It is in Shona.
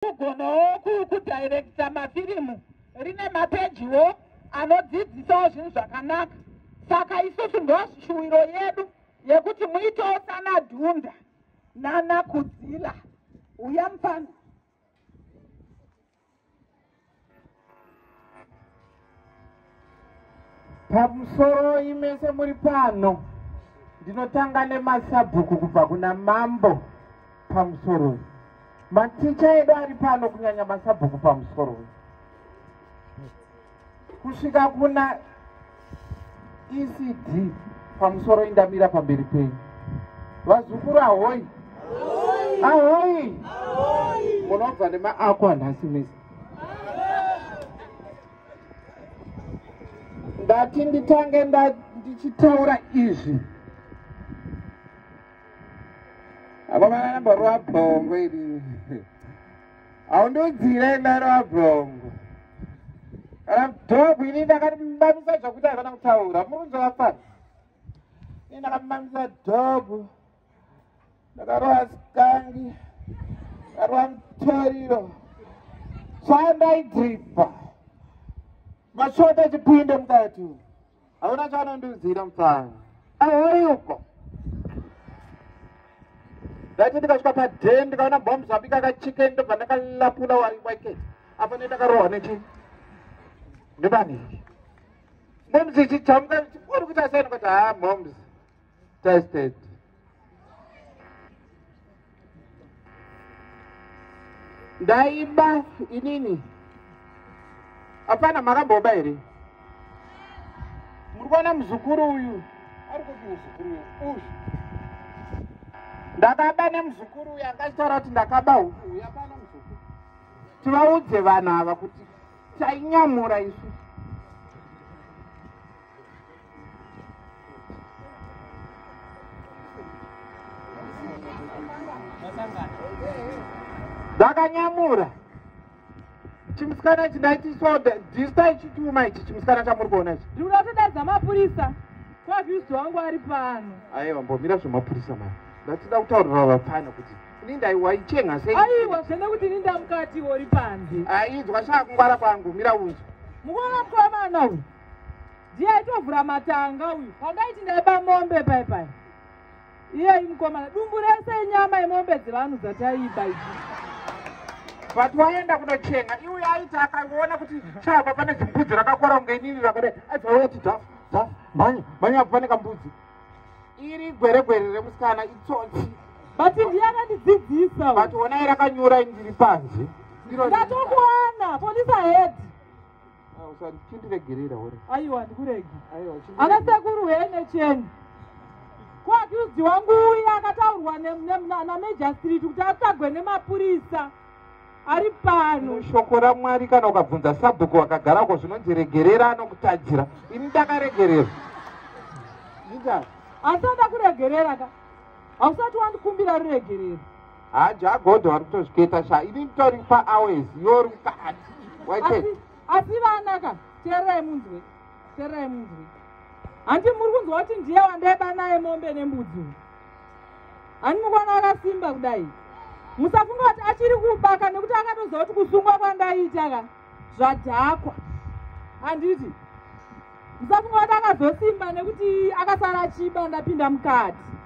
kugonawo kudirecta mafirimu rine mapejiwo anodzidzisawo zvinhu zvakanaka saka isusu ndoshuwiro yedu yekuti muitewo sana dhunda nana kudzila uya mufana pamusoroi mese muri pano ndinotanga nemasabhuku kubva kuna mambo pamusoroi maticha edu ari pano kunyanya masabhuku pamusoroi kusvika kuna ecd pamusoro indamira pamberi penyu vazukuru ahoyi ahoyi munobva nemaako anhasi misi ndati nditange ndichitaura izvi akomana namborova bhongo iri haundodzira endaro abhongo kana dog ini ndakamamisa zvakuti havana kutaura murunzo vafana ini ndakamamisa dog ndakarova sikangi ndakarova mutoriro chandaidripa mashota chipinde mukati hauna chaanondiudzira mupfana ahori uko ndati ndikasvika paden ndikaona bom zvabika kachiken ndobva ndakalapula wari wake apa ne ndakarohwa nechi ndobani momzi chichamuka uri kuita seni kuti ha momzi Tested. Ndaiba inini. Hapana makamboba here? Muri kuona muzukuru uyu? Ari kupi muzukuru uyu? Uyu. Ndakaba nemuzukuru uyu akachitaura kuti ndakaba huku uyu hapana muzukuru. Tivaudze vanhu ava kuti tainyamura isu. ndakanyamura chimusikana ichi ndaitiswa dhista ichituma ichi chimusikana chamuri kuona ichi ndi unatodadza mapurisa kwavhiusi wangu ari pano aiwa mbomira zvemapurisa mari ndatida kutaurira vapfana kuti ini ndaiwaichenga sei aiwa zvene kuti ini ndamukati uri panze aizwa shaa kungwara kwangu mira unzwa mukuona mukomana uyu ndiye aitovhura matanga uyu pandaiti ndaiba mombe pai pai iyeyi mukomana dumbu rese inyama yemombe dzevanhu dzataiba idzi but waenda kunochenga iuye aiti akaona kuti chaba pane zimbudzi rakakora kunge inini rakadai aibvauya ti daf daf mhanya mhanya apo pane kambudzi iri gweregwere remusikana itsotsi but ndiye akandidzidzisa but onai rakanyura indiri panze ndatokuona polisa hedi Ah, usa- chindiregerera uri aiwa ndikuregi aiwa chindi- ana sekuru hene cheni ko akiudzi wangu uya akataurwa ne- ne- na- namejastrit kuti atsvagwe nemapurisa ari pano shoko ramwari kana ukabvunza sabhuku wakagarako zvinonzi regerera anokutadzira ini ndakaregerera Linda, asi anda kuregerera ka hausati wandikumbira ruregerero haa jagodho wari kutozviketa sha ini nditori pa hours yori mukati waite asi vana ka teererai munzwe teererai munzwe handi muri kunzwa kuti ndiye wandaiba naye mombe nembudzi uyu handi mukwana akasimba kudai musafunga kuti achiri kubaka nekuti akatoziva kuti kusungwa kwandaita ka zvadhakwa handiti musafunga kuti akazosimba nekuti akasara achiba ndapinda mukati